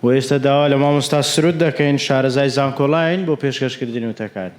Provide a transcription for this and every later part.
بۆ ئێستا داوا لە مامۆستا سرود دەکەین شارەزای زانکۆلاین بۆ پێشکەشکردنی وتەکانی.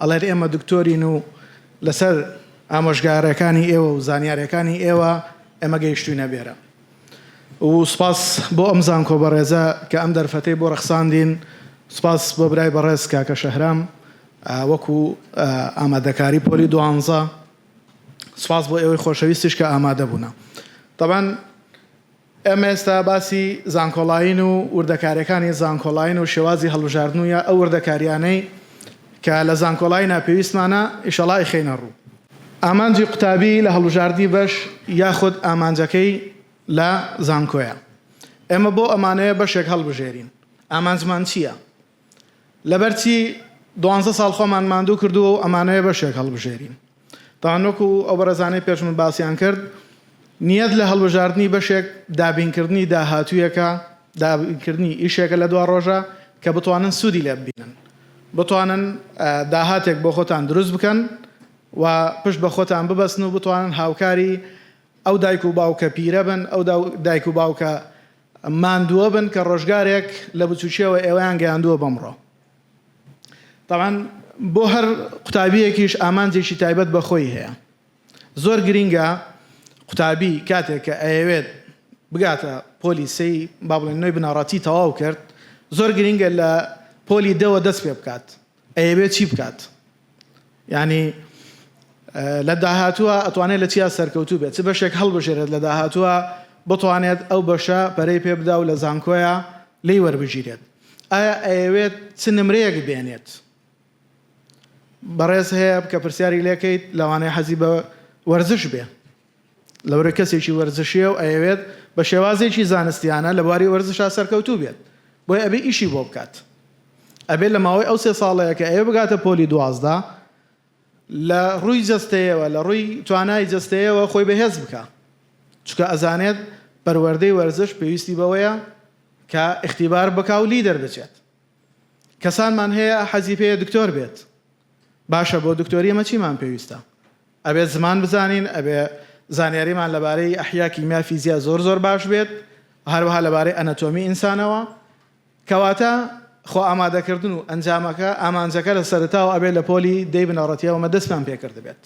ئەڵێت ئێمە دکتۆرین و لەسەر ئامۆژگارەکانی ئێوە و زانیارەکانی ئێوە ئێمە گەیشتوینە بێرە و سپاس بۆ ئەم زانکۆ بەڕێزە کە ئەم دەرفەتەی بۆ ڕەخساندین سپاس بۆ برای بەڕێز کاکە شەهرام وەکو ئامادەکاری پۆلی دوانزە سپاس بۆ ئێوەی خۆشەویستیش کە ئامادە بوونە طبعا ئێمە ئێستا باسی زانکۆڵاین و وردەکاریەکانی زانکۆڵاین و شێوازی هەڵبژاردن و یا ئەو وردەکاریانەی کە لە زانکۆڵاینا پێویستمانە ئیشەڵا ئەیخەینە ڕوو. ئامانجی قوتابی لە هەڵبژاردنی بەش یاخود ئامانجەکەی لە زانکۆیە. ئێمە بۆ ئەمانەیە بەشێک هەڵبژێرین. ئامانجمان چیە؟ لەبەر چی دوانزە ساڵ خۆمان ماندوو کردووە و ئەمانەوێ بەشێک هەڵبژێرین؟ تەنها وەکو ئەو بەڕێزانەی پێشمن باسیان کرد، نیەت لە هەڵبژاردنی بەشێک دابینکردنی داهاتوویەکە، دابینکردنی ئیشێکە لە دواڕۆژە کە بتوانن سوودی لێ ببینن، بتوانن داهاتێک بۆ خۆتان دروست بکەن و پشت بە خۆتان ببەستن و بتوانن هاوکاری ئەو دایک و باوکە پیرە بن، ئەو دایک و باوکە ماندووە بن کە ڕۆژگارێک لە بچووکیەوە ئێوەیان گەیاندووە بەمڕۆ تاوان بۆ هەر قوتابیەکیش ئامانجێکی تایبەت بە خۆی هەیە زۆر گرینگە قوتابی کاتێک کە ئەیەوێت بگاتە پۆلی سی با بڵێن نوێی بنەڕەتی تەواو کرد زۆر گرینگە لە پۆلی دەوە دەست پێ بکات ئەیەوێت چی بکات یانی لە داهاتووە ئەتوانێت لە چیا سەرکەوتوو بێت چ بەشێک هەڵبژێرێت لە داهاتووە بتوانێت ئەو بەشە پەرەی پێ بدا و لە زانکۆیە لی وەربگیرێت ئایا ئەیەوێت چ نمرەیەک بێنێت بەڕێز هەیە کە پرسیاری لێکەیت لەوانەیە حەزی بە وەرزش بێ لەورە کەسێکی وەرزشیە و ئەیەوێت بە شێوازێکی زانستیانە لە بواری وەرزشا سەرکەوتوو بێت بۆیە ئەبێ ئیشی بۆ بکات ئەبێ لە ماوەی ئەو سێ ساڵەیە کە ئەیەوێ بگاتە پۆلی دوازدە لە ڕووی جەستەیەوە لە ڕووی توانای جەستەیەوە خۆی بەهێز بکا چکە ئەزانێت پەروەردەی وەرزش پێویستی بەوەیە کە اختیبار بکا و لی دەربچێت کەسانمان هەیە حەزی پێیە دکتۆر بێت باشە بۆ دکتۆری ئەمە چیمان پێویستە ئەبێت زمان بزانین، ئەبێت زانیاریمان لەبارەی ئەحیا، کیمیا، فیزیا زۆر زۆر باش بێت و هەروەها لەبارەی ئەنەتۆمی ئینسانەوە. کەواتە خۆ ئامادەکردن و ئەنجامەکە، ئامانجەکە لە سەرەتاوە ئەبێت لە پۆلی دەی بنەڕەتییەوە ئەمە دەستمان پێ کردبێت.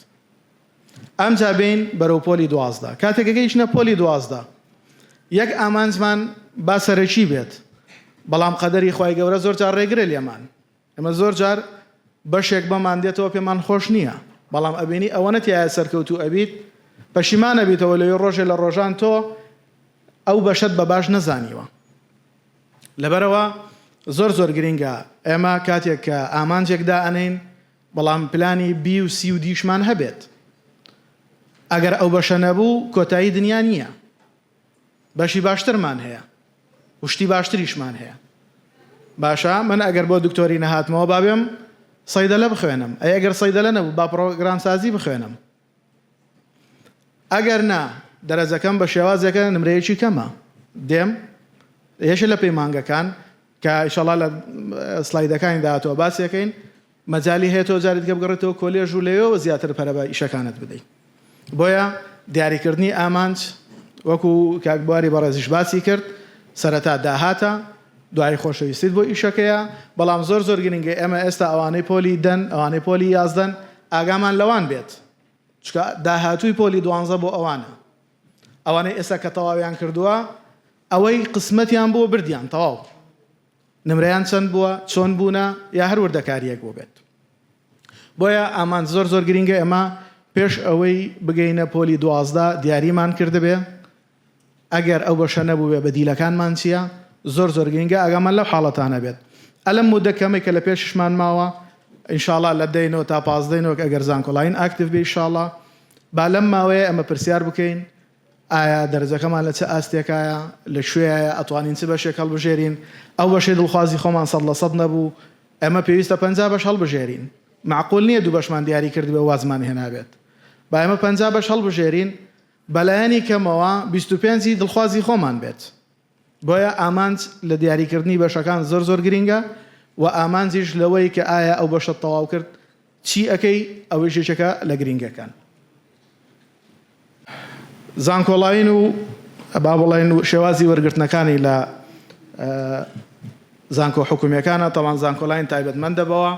ئەمجا بێین بەرەو پۆلی دوازدە. کاتێک کە گەیشتنە پۆلی دوازدە، یەک ئامانجمان با سەرەکی بێت، بەڵام قەدەری خوای گەورە زۆر جار ڕێگرە لێمان. ئێمە زۆر جار بەشێک بەمان دێتەوە پێمان خۆش نییە بەڵام ئەبینی ئەوەنە تایە سەرکەوتوو ئەبیت پەشیمان ئەبیتەوە لەوێ ڕۆژێ لە ڕۆژان تۆ ئەو بەشەت بە باش نەزانیوە لەبەرەوە زۆر زۆر گرنگە ئێمە کاتێک کە ئامانجێک دائەنین بەڵام پلانی بی و سی و دیشمان هەبێت ئەگەر ئەو بەشە نەبوو کۆتایی دنیا نییە بەشی باشترمان هەیە و شتی باشتریشمان هەیە باشە من ئەگەر بۆ دکتۆری نەهاتمەوە بابێم صیدلە بخوێنم ئەی ئەگەر صیدلە نەبوو با پرۆگرام سازی بخوێنم ئەگەر نا دەرەجەکەم بە شێوازێکە نمرەیەکی کەمە دێم یەشە لە پەیمانگەکان کە ئیشەڵا لە سلایدەکانی داهاتوە باسیەکەین مەجالی هەیە تۆ جارێ دیکە بگەڕێتەوە کۆلێژ و لەوێوە زیاتر پەرە بە ئیشەکانت بدەیت. بۆیە دیاریکردنی ئامانج وەکو کاک بواری بەڕێزیش باسی کرد سەرەتا داهاتە، دوایی خۆشەویستیت بۆ ئیشەکەیە، بەڵام زۆر زۆر گرنگە ئێمە ئێستا ئەوانەی پۆلی دەن، ئەوانەی پۆلی یازدەن ئاگامان لەوان بێت، چونکە داهاتووی پۆلی دوانزە بۆ ئەوانە. ئەوانەی ئێستا کە تەواویان کردووە ئەوەی قسمەتیان بووە بردیان تەواو. نمرەیان چەند بووە، چۆن بوونە یا هەر وردەکارییەک بووبێت. بۆیە ئامانج زۆر زۆر گرینگە، ئێمە پێش ئەوەی بگەینە پۆلی دوازدە دیاریمان کردبێ، ئەگەر ئەو بەشە نەبووبێ بەدیلەکانمان چییە، زۆر زۆر گرینگە ئاگامان لەو حاڵەتانە بێت. ئە لەم مودە کەمەی کە لە پێشیشمان ماوە، ان شاء اللە لە دەی نۆ تا پازدەی نۆ ئەگەر زانکۆلاین ئاکتیڤ بێ ئیشاڵڵا با لەم ماوەیە ئێمە پرسیار بکەین ئایا دەرەجەکەمان لە چ ئاستێکایە؟ لە کوێیایە؟ ئەتوانین چ بەشێک هەڵبژێرین؟ ئەو بەشەی دڵخوازی خۆمان سەد لە سەد نەبوو، ئێمە پێویستە پەنجا بەش هەڵبژێرین. مەعقول نییە دوو بەشمان دیاری کردبێ و وازمان هێنابێت. با ئێمە پەنجا بەش هەڵبژێرین، بە لایەنی کەمەوە بیست و پێنج ی دڵخوازی خۆمان بێت. بۆیە ئامانج لە دیاریکردنی بەشەکان زۆر زۆر گرینگە و ئامانجیش لەوەی کە ئایا ئەو بەشەت تەواو کرد چی ئەکەی ئەوەیش یەکێکە لە گرینگەکان. زانکۆڵاین و با بڵێن شێوازی وەرگرتنەکانی لە زانکۆ حکومیەکانە تاوان زانکۆلاین تایبەتمەندە بەوە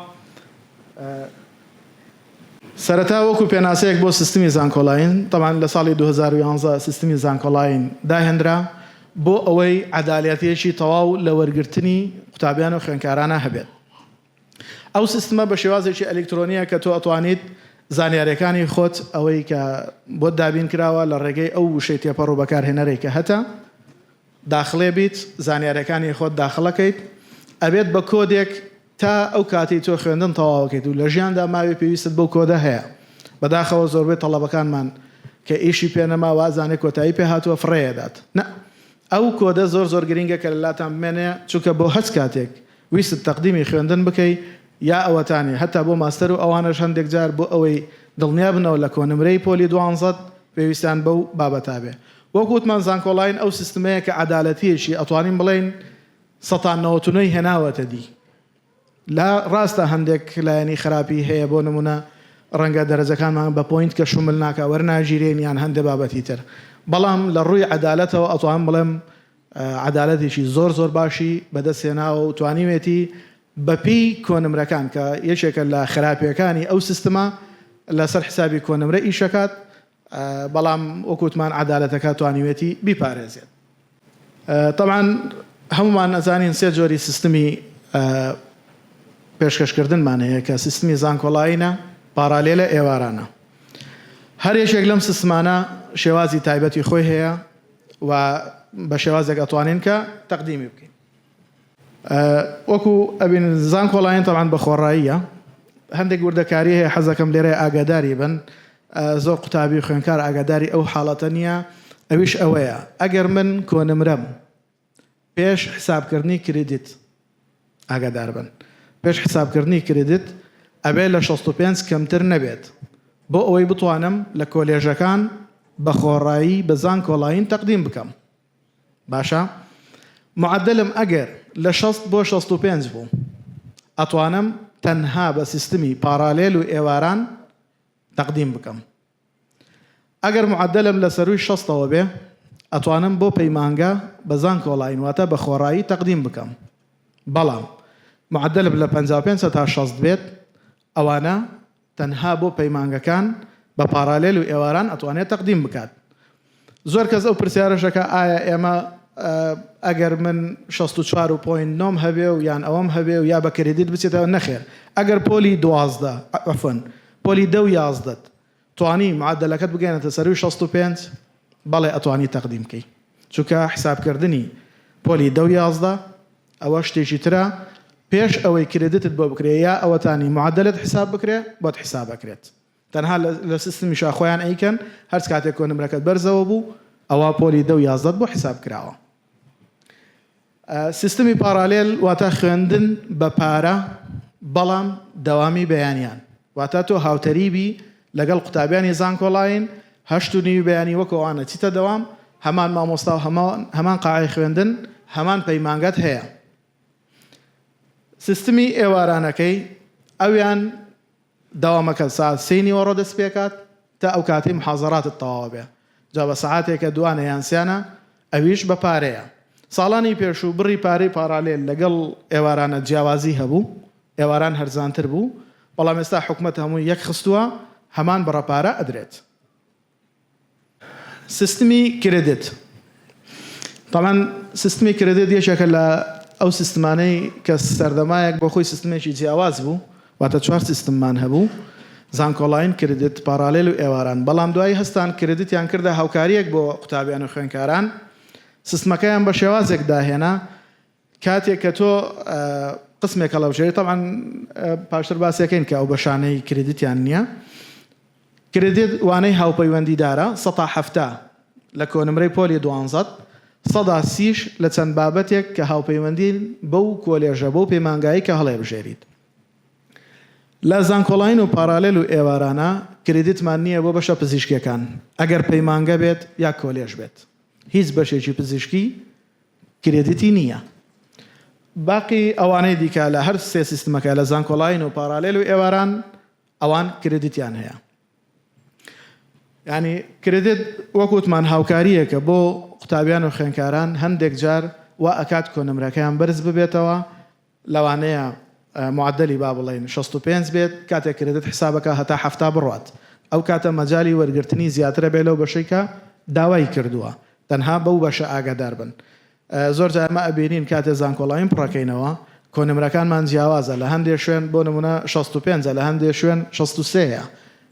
سەرەتا وەکو پێناسەیەک بۆ سیستمی زانکۆلاین، تەبعەن لە ساڵی دوو هەزار و یازدە سیستمی زانکۆلاین داهێنرا، بۆ ئەوەی عەدالەتیەکی تەواو لە وەرگرتنی قوتابیان و خوێنکارانە هەبێت. ئەو سیستمە بە شێوازێکی ئەلیکترۆنیە کە تۆ ئەتوانیت زانیاریەکانی خۆت ئەوەی کە بۆت دابین کراوە لە ڕێگەی ئەو وشەی تێپەڕ و بەکارهێنەرەی کە هەتە، داخڵێ بیت زانیارەکانی خۆت داخڵەکەیت ئەبێت بە کۆدێک تا ئەو کاتەی تۆ خوێندن تەواوەکەیت و لە ژیاندا ماوی پێویستت بەو کۆدە هەیە بەداخەوە زۆربەی تەڵەبەکانمان کە ئیشی پێ نەما وازانێ کۆتایی پێ هاتوە فڕێ ئەدات نە ئەو کۆدە زۆر زۆر گرینگە کە لەلاتان بمێنێ چونکە بۆ هەچ کاتێک ویستت تەقدیمی خوێندن بکەی یا ئەوەتانێ هەتا بۆ ماستەر و ئەوانەش هەندێک جار بۆ ئەوەی دڵنیا بنەوە لە کۆنمرەی پۆلی دوانزەت پێویستیان بەو بابەتە بێ. وەک وتمان زانکۆڵاین ئەو سیستمەیە کە عەدالەتیەکی ئەتوانین بڵێین سەتا نەوەت و نۆی هێناوەتە دی. لا ڕاستە هەندێک لایەنی خراپی هەیە بۆ نمونە ڕەنگە دەرەجەکانمان بە پۆینت کە شومل ناکا وەرناگیرێین یان هەندێ بابەتی تر بەڵام لە ڕووی عەدالەتەوە ئەتوانم بڵێم عەدالەتێکی زۆر زۆر باشی بەدەست هێناوە و توانیوێتی بەپێی کۆنمرەکان کە یەکێکە لە خراپیەکانی ئەو سیستمە لەسەر حسابی کۆنمرە ئیشەکات بەڵام وەکو وتمان عەدالەتەکە توانیوێتی بیپارێزێت تەبعەن هەمومان ئەزانین سێ جۆری سیستمی پێشکەشکردنمان هەیە کە سیستمی زانکۆڵاینە پارالێلە ئێوارانە هەر یەکێک لەم سیستمانە شێوازی تایبەتی خۆی هەیە و بە شێوازێک ئەتوانین کە تەقدیمی بکەین وەکو ئەبین زانکۆڵاین تەبان بە خۆڕاییە هەندێک وردەکاری هەیە حەزەکەم لێرە ئاگاداری بن زۆر قوتابی خوێنکار ئاگاداری ئەو حاڵەتە نییە ئەویش ئەوەیە ئەگەر من کۆنمرەم پێش حسابکردنی کریدیت ئاگاداربن، پێش حسابکردنی کریدیت ئەبێت لە شەست و پێنج کەمتر نەبێت بۆ ئەوەی بتوانم لە کۆلێژەکان بە خۆڕایی بە زانکۆلاین تەقدیم بکەم باشە معەدەلم ئەگەر لە شەست بۆ شەست و پێنج بوو ئەتوانم تەنها بە سیستمی پارالێل و ئێواران تەقدیم بکەم. ئەگەر معەدەلم لە سەرووی شەستەوە بێ ئەتوانم بۆ پەیمانگا بە زانکۆڵاین واتە بە خۆڕایی تەقدیم بکەم بەڵام معەدەلم لە پەنجا و پێنج هەتا شەست بێت ئەوانە تەنها بۆ پەیمانگەکان بە پاڕالێل و ئێواران ئەتوانێ تەقدیم بکات زۆر کەس ئەو پرسیارەش دەکا ئایا ئێمە ئەگەر من شەست و چوار و پۆینت نۆم هەبێ و یان ئەوەم هەبێ و یا بە کرێدیت بچێتەوە نەخێر ئەگەر پۆلی دوازدە عەفوەن پۆلی دە و یازدەت توانی معەدەلەکەت بگەیەنێتە سەرووی شەست و پێنج بەڵێ ئەتوانی تەقدیم کەی چونکە حسابکردنی پۆلی دە و یازدە ئەوە شتێکی ترە پێش ئەوەی کرێدیتت بۆ بکرێ یا ئەوەتانی معەدەلت حساب بکرێ بۆت حساب ئەکرێت تەنها لە سیستمی شاخۆیان ئەیکەن هەرچ کاتێک کۆ نمرەکەت بەرزەوە بوو ئەوا پۆلی دە و یازدەت بۆ حیساب کراوە سیستمی پاڕالێل واتا خوێندن بە پارە بەڵام دەوامی بەیانیان واتا تۆ هاوتەریبی لەگەڵ قوتابیانی زانکۆڵاین هەشت و نیوی بەیانی وەکەوانە چیتە دەوام هەمان مامۆستا و هەمان هەمان قاعەی خوێندن هەمان پەیمانگەت هەیە سیستمی ئێوارانەکەی ئەویان دەوامەکە سەعات سێی نیوەڕۆ دەست پێکات تا ئەو کاتەی محازەراتت تەواوە بێ جا بە سەعاتێکە دوانە یان سیانە ئەویش بە پارەیە ساڵانی پێشوو بڕی پارەی پارالێل لەگەڵ ئێوارانە جیاوازی هەبوو ئێواران هەرزانتر بوو بەڵام ئێستا حکومەت هەمووی یەک خستووە هەمان بڕە پارە ئەدرێت. سیستمی کریدت تەبعەن سیستمی کریدت یەکێکە لە ئەو سیستمانەی کە سەردەمایەک بۆ خۆی سیستمێکی جیاواز بوو واتە چوار سیستممان هەبوو زانکۆڵاین کریدت پارالێل و ئێواران بەڵام دوایی هەستان کریدتیان کردە هاوکاریەک بۆ قوتابیان و خوێنکاران سیستمەکەیان بە شێوازێک داهێنا کاتێک کە تۆ قسمێک هەڵەبژێری، تەبعەن پاشتر باسی ئەکەین کە ئەو بەشانەی کریدیتیان نییە، کریدیت وانەی هاوپەیوەندیدارە، سەتا حەفتا لە کۆنمرەی پۆلی دوانزەت، سەدا سیش لە چەند بابەتێک کە هاوپەیوەندین بەو کۆلێژە، بەو پەیمانگایەی کە هەڵێبژێریت. لە زانکۆڵاین و پارالێل و ئێوارانە کریدیتمان نییە بۆ بەشە پزیشکییەکان، ئەگەر پەیمانگە بێت یا کۆلێژ بێت، هیچ بەشێکی پزیشکی کرێدیتی نییە. باقی ئەوانەی دیکە لە هەر سێ سیستمەکە لە زانکۆلاین و پارالێل و ئێواران ئەوان کرێدیتیان هەیە. یانی کرێدیت وەک وتمان هاوکارییەکە بۆ قوتابیان و خوێندکاران هەندێک جار وا ئەکات کۆنمرەکەیان بەرز ببێتەوە، لەوانەیە معەدەلی با بڵێین شەست و پێنج بێت، کاتێک کرێدت حسابەکە هەتا حەفتا بڕوات، ئەو کاتە مەجالی وەرگرتنی زیاترە بێت لەو بەشەی کە داوای کردووە، تەنها بەو بەشە ئاگادار بن. زۆر جار ئێمە ئەبینین کاتێ زانکۆڵاین پڕەکەینەوە کۆنمرەکانمان جیاوازە لە هەندێ شوێن بۆ نمونە شەست و پێنج لە هەندێ شوێن شەست و سێ یە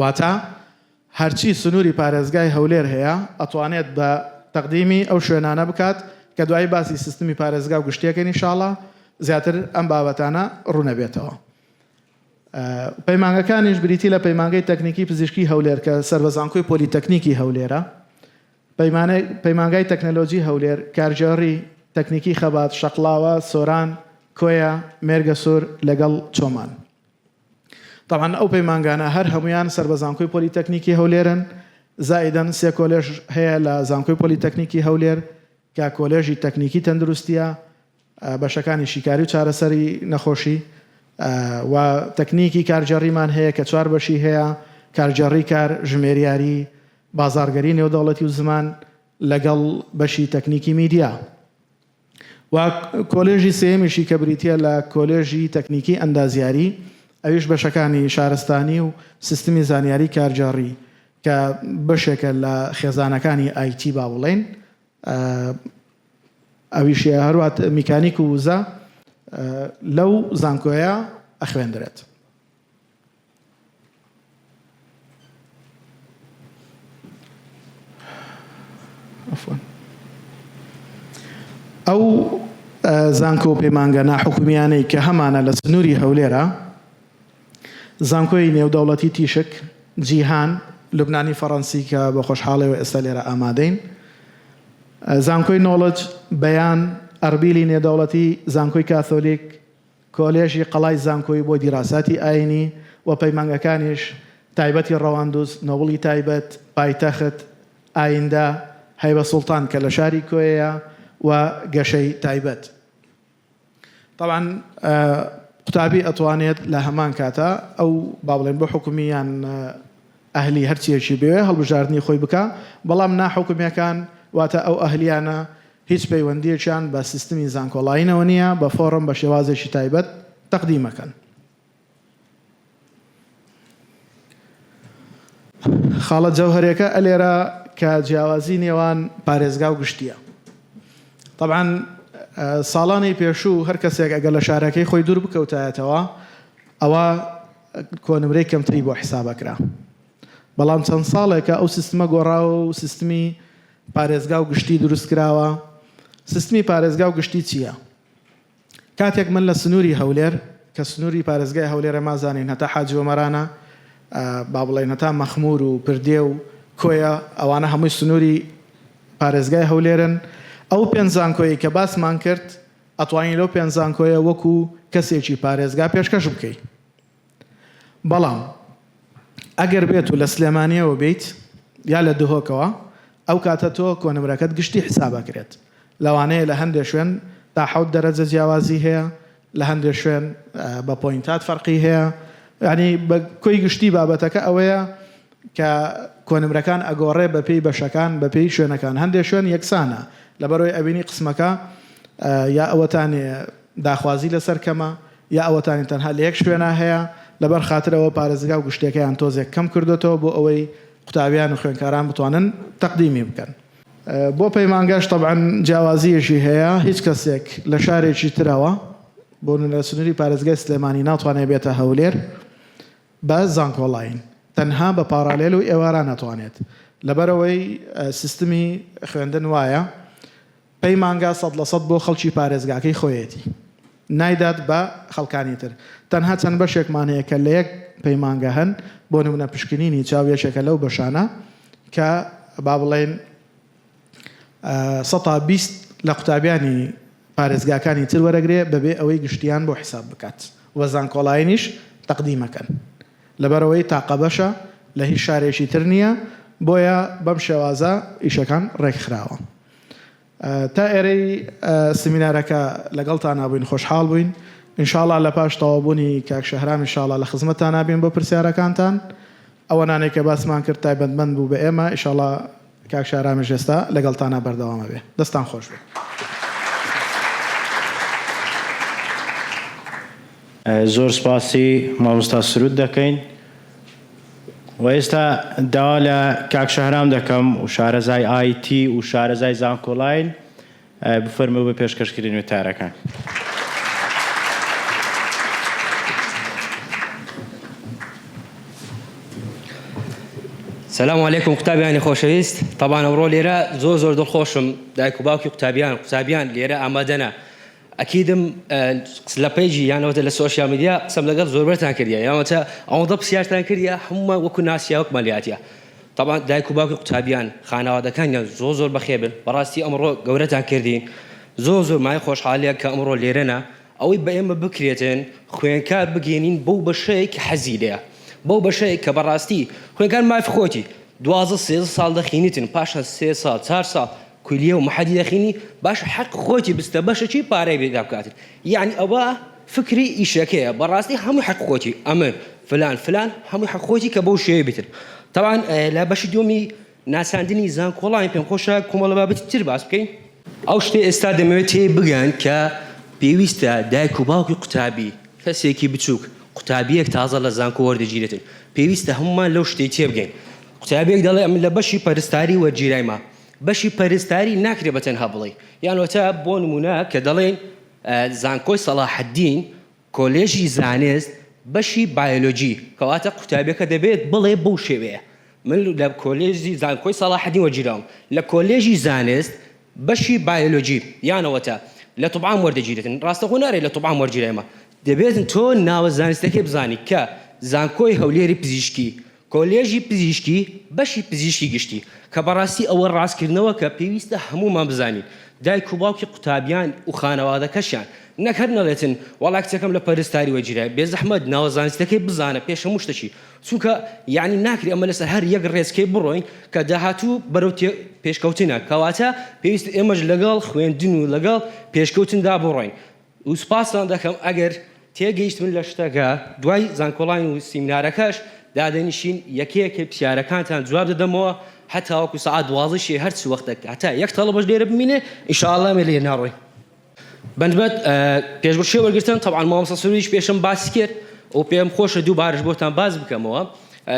واتە هەرچی سنوری پارێزگای هەولێر هەیە ئەتوانێت بە تەقدیمی ئەو شوێنانە بکات کە دوایی باسی سیستمی پارێزگا و گشتیەکەین ان شاءاللە زیاتر ئەم بابەتانە ڕونەبێتەوە. پەیمانگەکانیش بریتی لە پەیمانگەی تەکنیکی پزیشکی هەولێر کە سەر بە زانکۆی پۆلیتەکنیکی هەولێرە، پەیمانگای تەکنەلۆجی هەولێر، کارگێڕی، تەکنیکی خەبات، شەقڵاوە، سۆران، کۆیە، مێرگەسور لەگەڵ چۆمان. تەبعەن ئەو پەیمانگانە هەر هەموویان سەر بە زانکۆی پۆلیتەکنیکی هەولێرن، زائیدەن سێ کۆلێژ هەیە لە زانکۆی پۆلیتەکنیکی هەولێر کە کۆلێژی تەکنیکی تەندروستییە، بەشەکانی شیکاری و چارەسەری نەخۆشی و تەکنیکی کارگێڕیمان هەیە کە چوار بەشی هەیە، کارگێڕی کار، ژمێریاری، بازاڕگەری نێودەوڵەتی و زمان لەگەڵ بەشی تەکنیکی میدیا. و کۆلێژی سێیەمیشی کە بریتییە لە کۆلێژی تەکنیکی ئەندازیاری ئەویش بەشەکانی شارستانی و سیستمی زانیاری کارگێڕی کە بەشێکە لە خێزانەکانی ئای تی با بڵێین ئەویش هەروا میکانیک و وزە لەو زانکۆیە ئەخوێندرێت. ئەو زانکۆ و پەیمانگە ناحکومیانەی کە هەمانە لە سنووری هەولێرە زانکۆی نێودەوڵەتی تیشک جیهان لوبنانی فەڕەنسی کە بە خۆشحاڵەوە ئێستا لێرە ئامادەین زانکۆی نۆڵج بەیان ئەربیلی نێدەوڵەتی زانکۆی کاتۆلیک کۆلێژی قەڵای زانکۆی بۆ دیراساتی ئاینی و پەیمانگەکانیش تایبەتی ڕەواندوز، نۆبڵی تایبەت، پایتەخت، ئایندە، هەیبە سوڵتان کە لە شاری کۆیەیە و گەشەی تایبەت. تەبعەن قوتابی ئەتوانێت لە هەمان کاتا ئەو با بڵێن بۆ حکومی یان. ئەهلی هەرچیەکی بوێ هەڵبژاردنی خۆی بکا بەڵام نا حکومیەکان واتە ئەو ئەهلیانە هیچ پەیوەندیەکیان بە سیستمی زانکۆڵاینەوە نیە بە فۆڕم بە شێوازێکی تایبەت تەقدیم ئەکەن. خاڵە جەوهەریەکە ئەلێرە کە جیاوازی نێوان پارێزگا و گشتیە طبعان ساڵانی پێشوو هەر کەسێک ئەگەر لە شارەکەی خۆی دوور بکەوتایەتەوە ئەوە کۆنمرەی کەمتری بۆ حساب ئەکرا بەڵام چەند ساڵێکە ئەو سیستمە گۆڕاوە و سیستمی پارێزگا و گشتی دروست کراوە سیستمی پارێزگا و گشتی چییە کاتێک من لە سنووری هەولێر کە سنووری پارێزگای هەولێرە مازانین هەتا حاجی وەمەرانە با بڵێن هەتا مەخمور و پردێ و کۆیە ئەوانە هەمووی سنووری پارێزگای هەولێرن ئەو پێنج زانکۆیی کە باسمان کرد ئەتوانی لەو پێنج زانکۆیە وەکو کەسێکی پارێزگا پێشکەش بکەی بەڵام ئەگەر بێت و لە سلێمانیەوە بیت یا لە دهۆکەوە ئەو کاتە تۆ کۆنمرەکەت گشتی حسابەکرێت لەوانەیە لە هەندێ شوێن تا حەوت دەرەجە جیاوازی هەیە لە هەندێ شوێن بە پۆینتات فەرقی هەیە یعنی بە کۆی گشتی بابەتەکە ئەوەیە کە کۆنمرەکان ئەگۆڕێ بە پێی بەشەکان بە پێی شوێنەکان هەندێ شوێن یەکسانە لەبەرۆی ئەبینی قسمەکە یا ئەوەتانێ داخوازی لەسەر کەمە یا ئەوەتانی تەنها لەیەک شوێنا هەیە لەبەر خاتر ئەوە پارێزگا و گشتیەکەیان تۆزێک کەم کردۆتەوە بۆ ئەوەی قوتابیان و خوێنکاران بتوانن تەقدیمی بکەن بۆ پەیمانگاش تەبعەن جیاوازیەکی هەیە هیچ کەسێک لە شارێکی ترەوە بۆ نونە سنوری پارێزگای سلێمانی ناتوانێ بێتە هەولێر. بە زانکۆڵاین تەنها بە پاڕالێل و ئێواران ئەتوانێت لەبەرئەوەی سیستمی خوێندن وایە پەیمانگا سەد لە سەد بۆ خەڵکی پارێزگاکەی خۆیەتی نایدات بە خەڵکانی تر تەنها چەند بەشێکمان هەیە کە لە یەک پەیمانگا هەن بۆ نمونە پشکنینی چاو یەکێکە لەو بەشانە کە با بڵێین سەتا بیست لە قوتابیانی پارێزگاکانی تر وەرەگرێ بەبێ ئەوەی گشتیان بۆ حیساب بکات و زانکۆڵاینیش تەقدیمەکەن لەبەرئەوەی تاقە بەشە لە هیچ شارێکی تر نیە بۆیە بەم شێوازە ئیشەکان ڕێکخراوە تا ئێرەی سمینارەکە لەگەڵتانا بووین خۆشحاڵ بووین انشاڵا لە پاش تەواوبوونی کاک شەهرام انشاڵا لە خزمەتانا بین بۆ پرسیارەکانتان ئەوەنانەی کە باسمان کرد تایبەتمەند بوو بە ئێمە انشاڵا کاک شارامیش ئێستا لەگەڵتانە بەردەوام ئەبێ. دەستتان خۆش بێ. زۆر سپاسی مامۆستا سرود دەکەین و ئێستا داوا لە کاک شەهرام دەکەم و شارەزای ئایتی و شارەزای زانکۆلاین بفەرموو بە پێشکەشکرین وتارەکان. سلام علیکم قوتابیانی خۆشەویست تەبان ئەوڕۆ لێرە زۆر زۆر دڵخۆشم دایک و باوکی قوتابیان قوتابیان لێرە ئامادەە ئەکیدم لە پەیجی یانەوەتە لە سوۆشیال میدیا قسەم لەگەڵ زۆربەرتان کردە یاوەتە ئەوەندە پرسیارتان کردە هەمومان وەکو ناسیاوەک مەلیاتە تەبعەن دایک و باوکی قوتابیان خانەوادەکانیان زۆر زۆر بەخێر بن بەڕاستی ئەمڕۆ گەورەتان کردین زۆر زۆر مایە خۆشحالیە کە ئەمڕۆ لێرەنا ئەوەی بە ئێمە بکرێتن خوێنکار بگەێنین بەو بەشەیە کە حەزی لێە بەو بەشەیە کە بەڕاستی خوێنکار مافی خۆتی دوازە سێزە ساڵ دەخینیتن پاشان سێ ساڵ چار ساڵ کولیە و محەدیرەخینی باش حەق خۆیتی بستە بەشەکی پارەی بێ دابکاتت یەعنی ئەوە فکری ئیشەکەیە بەڕاستی هەموی حەق خۆیتی ئەمن فلان فلان هەموی حەق خۆیتی کە بەو شێوەی بیتن تەبعەن لە بەشی دوەمی ناساندنی زانکۆڵاین پێم خۆشە کۆمەڵە بابەتی تر باس بکەین. ئەو شتەی ئێستا دەمەوێت تێی بگەن کە پێویستە دایک و باوکی قوتابی کەسێکی بچوک قوتابیەک تازە لە زانکۆ وەردەگیرێتن پێویستە هەمومان لەو شتەی تێبگەین قوتابیەک دەڵێ ئەمن لە بەشی پەرستاری وەرگیرایمە بەشی پەرستاری ناکرێ بە تەنها بڵێی یان وەتا بۆ نمونە کە دەڵێین زانکۆی سەڵاحەدین کۆلێژی زانست بەشی بایۆلۆجی کەواتە قوتابیەکە دەبێت بڵێ بەو شێوەیە من لە کۆلێژی زانکۆی سەڵاحەدین وەرگیراوم لە کۆلێژی زانست بەشی بایۆلۆجی یانەوەتە لە طبعام وەردەگیرێتن ڕاستەخۆ نارێت لە طبعام وەرگیرێمە دەبێتن تۆ ناوە زانستەکەی بزانی کە زانکۆی هەولێری پزیشکی کۆلێژی پزیشکی بەشی پزیشکی گشتی کە بەڕاستی ئەوە ڕاستکردنەوە کە پێویستە هەموومان بزانین دایک و باوکی قوتابیان و خانەوادەکەشیان نەک هەر نەڵێتن وەڵا کچەکەم لە پەرستاری وەرگیرایە بێزەحمەت ناوە زانستیەکەی بزانە پێش هەموو شتەکی چونکە یانی ناکرێ ئەمە لەسەر هەر یەک ڕێچکەی بڕۆین کە داهاتوو بەرەو تێ پێشکەوتنە کەواتە پێویستە ئێمەش لەگەڵ خوێندن و لەگەڵ پێشکەوتندا بڕۆین و سوپاستان دەکەم ئەگەر تێگەیشتبن لە شتەکە دوای زانکۆڵاین و سیمینارەکەش دادەنیشین یەکە یەکە پرسیارەکانتان جواب دەدەمەوە هەتاوەکو سەعات دوازدە شەی هەر چ وەختەک هەتا یەک تەڵەبەش لێرە بمینێ ان شاء اللە ئێمە لێ ناڕۆین بەنبەت پێشبڕکێ وەرگرتن تەبعا مامۆستا سروریش پێشم باسی کرد و پێم خۆشە دووبارەش بۆتان باس بکەمەوە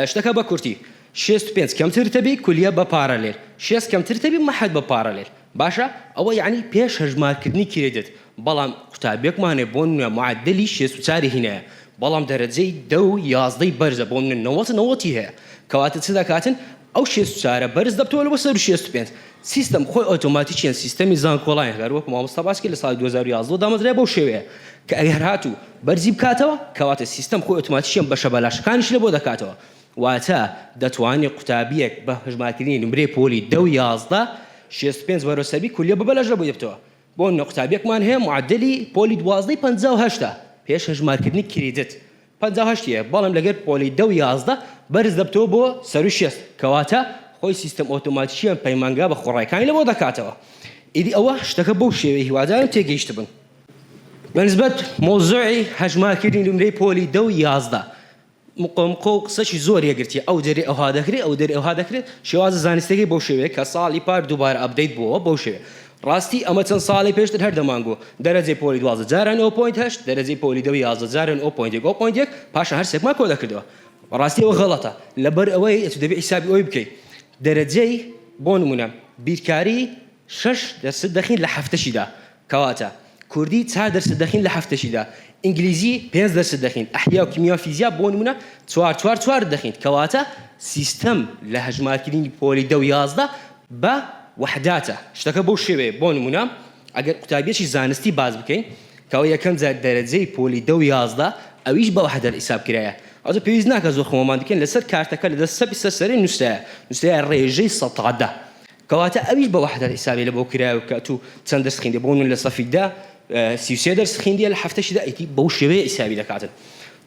شتەکە بە کورتی شێست و پێنج کەمتر تەبی کولیە بە پارەلێل شێست کەمتر تەبی مەحەد بە پارەلێل باشە ئەوە یەعنی پێش هەژمارکردنی کریدت بەڵام قوتابیەکمان هەیە بۆ نمونە معەدەلی شێست و چاری هینایە بەڵام دەرەجەی دە و یازدەی بەرزە بۆ نمونە نەوەت نەوەتی هەیە کەواتە چ دەکاتن ئەو شێست و چارە بەرز دەبتەوە لەوە سەروو شێست و پێنج سیستەم خۆی ئۆتۆماتیکیەن سیستەمی زانکۆڵاین هەر وەکو مامۆستا باس کرد لە ساڵی دوو هەزار و یازدە دامەزرا بەو شێوەیە کە ئەگەر هاتوو بەرزی بکاتەوە کەواتە سیستەم خۆی ئۆتۆماتیکیەن بەشە بەلاشەکانیش لەبۆ دەکاتەوە واتە دەتوانی قوتابیەک بە هەژمارکردنی نمرەی پۆلی دە و یازدە شێست و پێنج بەرەو سەروی کولیە ببە لەش لەبوی بتەوە بۆ نمونە قوتابیەکمان هەیە معەدەلی پۆلی دوازدەی پەنجا و هەشتە پێش هەژمارکردنی کریدت پەنجا و هەشت یە بەڵام لەگەر پۆلی دە و یازدە بەرز دەبتەوە بۆ سەروی شێست کەواتە خۆی سیستەم ئۆتۆماتیکیان پەیمانگا بە خۆڕایەکانی لەبۆ دەکاتەوە ئیدی ئەوە شتەکە بەو شێوەیە هیوادارم تێگەیشتبن بەنسبەت مەوزوعی هەژمارکردنی نمرەی پۆلی دە و یازدە. مقۆمقۆ و قسەکی زۆر یەکگرتییە، ئەو دەرێ ئەوها دەکرێت، ئەو دەرێ ئەوها دەکرێت، شێوازە زانستییەکەی بەو شێوەیە کە ساڵی پار دووبارە ئەپدەیت بووەوە بەو شێوەیە. ڕاستی ئەمە چەند ساڵێ پێشتر هەر دەمانگۆت، دەرەجەی پۆلی دوازدە جارە نۆ پۆینت هەشت، دەرەجەی پۆلی دە و یازدە جارە نۆ پۆینت یەک و پۆینت یەک، پاشان هەر سێکمان کۆ دەکردەوە. بەڕاستی ئەوە غەڵەتە، لەبەر ئەوەی ئەتوو دەبێت حیسابی ئەوەی بکەیت دەرەجەی، بۆ نموونە، بیرکاری شەش دەرسد دەخیت لە هەفتەکیدا، کەواتە کوردی چار دەرست دەخین لە هەفتەشیدا ئینگلیزی پێنج دەرست دەخین ئەحیا و کیمیا و فیزیا بۆ نمونە چوار چوار چوار دەخین کەواتە سیستەم لە هەژمارکردنی پۆلی دە و یازدە بە وەحداتە شتەکە بەو شێوەیە بۆ نمونە ئەگەر قوتابیەکی زانستی باس بکەین کە ئەوە یەکەم جار دەرەجەی پۆلی دە و یازدە ئەویش بە وەحدەت حیساب کرایە ئەوجا پێویست ناکا زۆر خۆمان بکەین لەسەر کارتەکە لە دەست چەپی سەر سەرێ نوسرایە نوسرایە ڕێژەی سەتا دە کەواتە ئەویش بە وەحدەت حیسابی لە بۆ کرایەوە کە ئەتوو چەند دەرس خویندی بۆ من لە سەفی دە سی و سێ دەرس خویندیە لە حەفتەشی دا ئیتی بەو شێوەیە حیسابی دەکاتن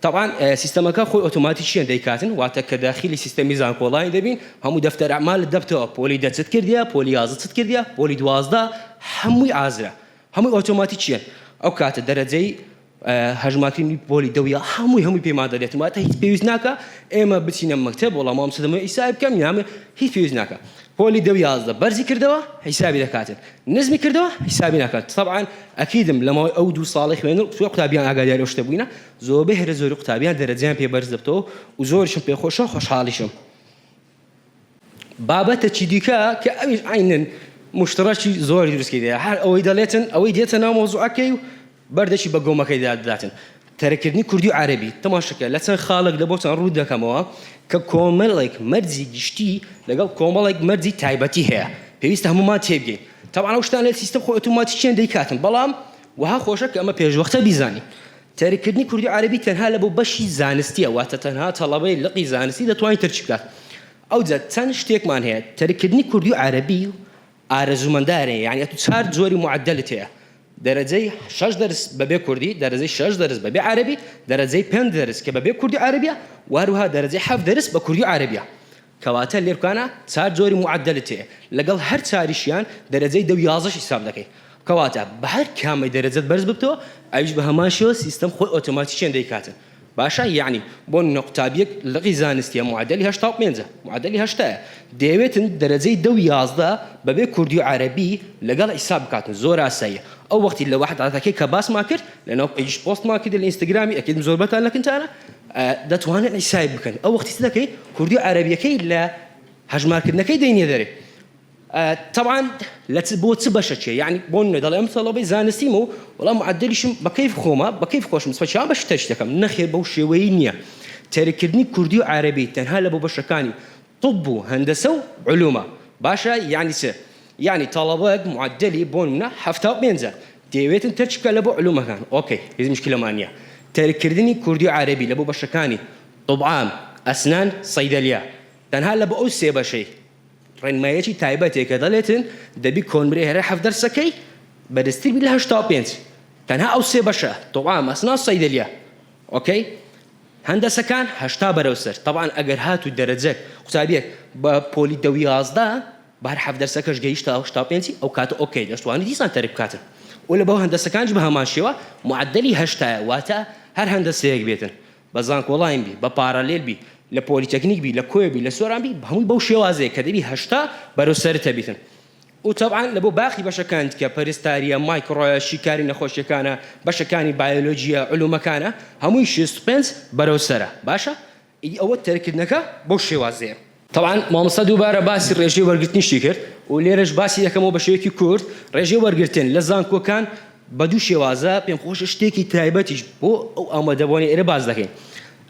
تەبعان سیستەمەکە خۆی ئۆتۆماتیکیەن دەیکاتن واتە کە داخیلی سیستەمی زانکۆڵاین دەبین هەموو دەفتەر ئەعمالت دەبتەوە پۆلی دە چت کردیە پۆلی یازدە چت کردیە پۆلی دوازدە هەمووی ئازرە هەمووی ئۆتۆماتیکیەن ئەو کاتە دەرەجەی هەژمارکردنی پۆلی دە و یە هەمووی هەمووی پێمان دەدێتن واتە هیچ پێویست ناکا ئێمە بچینە مەکتەب وەڵا مامۆستا دەمەوێت ئیسای بکەم یان بێ هیچ پێویست ناکا پۆلی دە و یازدە بەرزی کردەوە حیسابی دەکاتن نزمی کردەوە حیسابی ناکات طبعا ئەکیدم لە ماوەی ئەو دوو ساڵی خوێندن زۆر قوتابیان ئاگاداری ئەو شتە بووینە زۆربەی هەرە زۆری قوتابیان دەرەجەیان پێ بەرز دەبتەوە و زۆرشم پێ خۆشە و خۆشحاڵیشم بابەتەکی دیکە کە ئەویش عەینەن موشترەکی زۆر دروستی دەیە هەر ئەوەی دەڵێتن ئەوەی دێتە ناو مەوزوعەکەی و بەردەکی بە گۆمەکەیدا دەداتن تەرککردنی کوردی و عەرەبی تەماشەکە لە چەند خاڵێکدا بۆتان ڕووت دەکەمەوە کە کۆمەڵێک مەرجی گشتی لەگەڵ کۆمەڵێک مەرجی تایبەتی هەیە پێویستە هەموومان تێبگەین تەبعەن ئەو شتانەی سیستەم خۆی ئۆتۆماتیکیان دەیکاتن بەڵام وەها خۆشە کە ئەمە پێشوەختە بیزانین تەرککردنی کوردی و عەرەبی تەنها لە بۆ بەشی زانستییە، واتە تەنها تەڵەبەی لقی زانستی دەتوانێت تەرکی بکات. ئەوجا چەند شتێکمان هەیە، تەرککردنی کوردی و عەرەبی ئارەزوومەندانەیە، یانی ئەتوو چوار جۆری معەدەلت هەیە، دەرەجەی شەش دەرس بەبێ کوردی، دەرەجەی شەش دەرس بەبێ عەرەبی، دەرەجەی پێنج دەرس کە بەبێ کوردی و عەرەبییە و هەروەها دەرەجەی حەفت دەرس بە کوردی و عەرەبییە. کەواتە لێرکانا چار جۆری معەدەلت هەیە لەگەڵ هەر چاریشیان دەرەجەی دە و یازدەش حیساب دەکەی کەواتە بەهەر کامەی دەرەجەت بەرز ببتەوە ئەویش بەهەمان شێوە سیستەم خۆی ئۆتۆماتیکیان دەیکاتن باشە یەعنی بۆ نمونە قوتابیەک لقی زانستیە معەدەلی هەشتا و پێنج معەدەلی هەشتایە دەیەوێتن دەرەجەی دە و یازدە بەبێ کوردی و عەرەبی لەگەڵ حیساب بکاتن زۆر ئاساییە ئەو وەختی لە وەحداتەکەی کە باسمان کرد لەناو پەیجیش پۆستمان کردی لە ئینستاگرامی ئەکید زۆربەتان لەکنتانە دەتوانن ئیسای بکەن ئەو وەختی دەکەی کوردی و عەرەبیەکەی لە هەژمارکردنەکەی دەینێ دەرێ تەوان لە بۆ چ بەشە چێ یعنی بۆ نوێ دەڵێ ئەم سەڵەبەی زانستیم و وەڵام معدلیشم بەکەیف خۆمە بەکەیف خۆشم سەچا بەش تەش دەکەم نەخێر بەو شێوەی نییە تەرکردنی کوردی و عەرەبی تەنها لە بۆ بەشەکانی طب و هەندەسە و علومە باشە یانی چ یانی تەڵەبەت معدلی بۆ نمونە حەفتا و پێنج ە دەیەوێتن تەرک بکات لە بۆ علومەکان ئۆکەی هیچ مشکلەمان نیە تەرک کردنی کوردی و عەرەبی لە بۆ بەشەکانی طب عام ئەسنان صیدلیا تەنها لە بۆ ئەو سێ بەشەی ڕێنماییەکی تایبەتێ کە دەڵێتن دەبی کۆنمرەی هەرە حەفت دەرسەکەی بەرزتر بی لە هەشتا و پێنج تەنها ئەو سێ بەشە طب عام ئەسنان صیدلیا ئۆکەی هەندەسەکان هەشتا بەرەو سەر تەبعەن ئەگەر هاتوو دەرەجەت قوتابیەک بە پۆلی دە و یازدە بە هەر حەڤ دەرسەکەش گەیشتە هەشتا و پێنج ئەو کاتە ئۆکەی دەشتوانی دیسان تەرک بکاتن و لەبەو هەندەسەکانیش بە هەمان شێوە معەدەلی هەشتایە واتە هەر هەندەسەیەک بێتن بە زانکۆڵاین بی بە پارالێل بی لە پۆلیتەکنیک بی لە کۆیە بی لە سۆران بی هەمووی بەو شێوازەیە کە دەبی هەشتا بەرەو سەرت هەبیتن و تەبعەن لە بۆ باقی بەشەکان دیکە، پەرستارییە، مایکڕۆیە، شیکاری نەخۆشییەکانە، بەشەکانی بایۆلۆجییە، علومەکانە، هەمووی شێست و پێنج بەرەو سەرە، باشە ئیدی ئەوە تەرککردنەکە بەو شێوازەیە. تەبعەن مامۆستا دووبارە باسی ڕێژەی وەرگرتنیشی کرد و لێرەش باسی دەکەمەوە بە شێوەیەکی کورت، ڕێژەی وەرگرتن لە زانکۆکان بە دوو شێوازە، پێمخۆشە شتێکی تایبەتیش بۆ ئەو ئامادەبووانەی ئێرە باس دەکەین،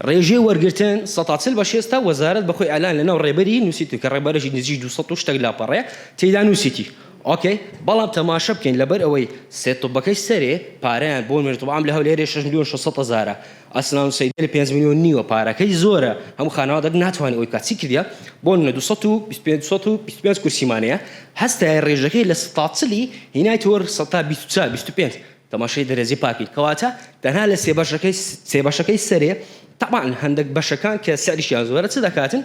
ڕێژەی وەرگرتن سەد تا چل بە شێستە، وەزارەت بە خۆی ئەلان لەناو ڕێبەری نووسیتووە کە ڕێبەرێکی نزیک دوو سەد و شتێک لاپەڕەیە تێیدا نووسیتی ئۆکەی بەڵام تەماشە بکەین لەبەر ئەوەی سێ طوبەکەی سەرێ پارەیان بۆ نوێژ طوب عام لە هەولێرێ شەش ملیۆن شەش سەد هەزارە ئەسلان و سەیدەلی پێنج ملیۆن نیوە پارەکەی زۆرە هەموو خانەوادەک ناتوانێ ئەوەی بکات چی کردیە بۆ نمونە دوو سەد و بیست و پێنج سەد و بیست و پێنج کورسیمان هەیە هەستایە ڕێژەکەی لە سەد تا چلی هینایتەوە سەد تا بیست و چوار بیست و پێنج تەماشای دەرەجەی پاکی کەواتە تەنها لە سێ بەشەکەی سێ بەشەکەی سەرێ تەبعەن هەندەک بەشەکان کە سعریشیان زۆرە چ دەکاتن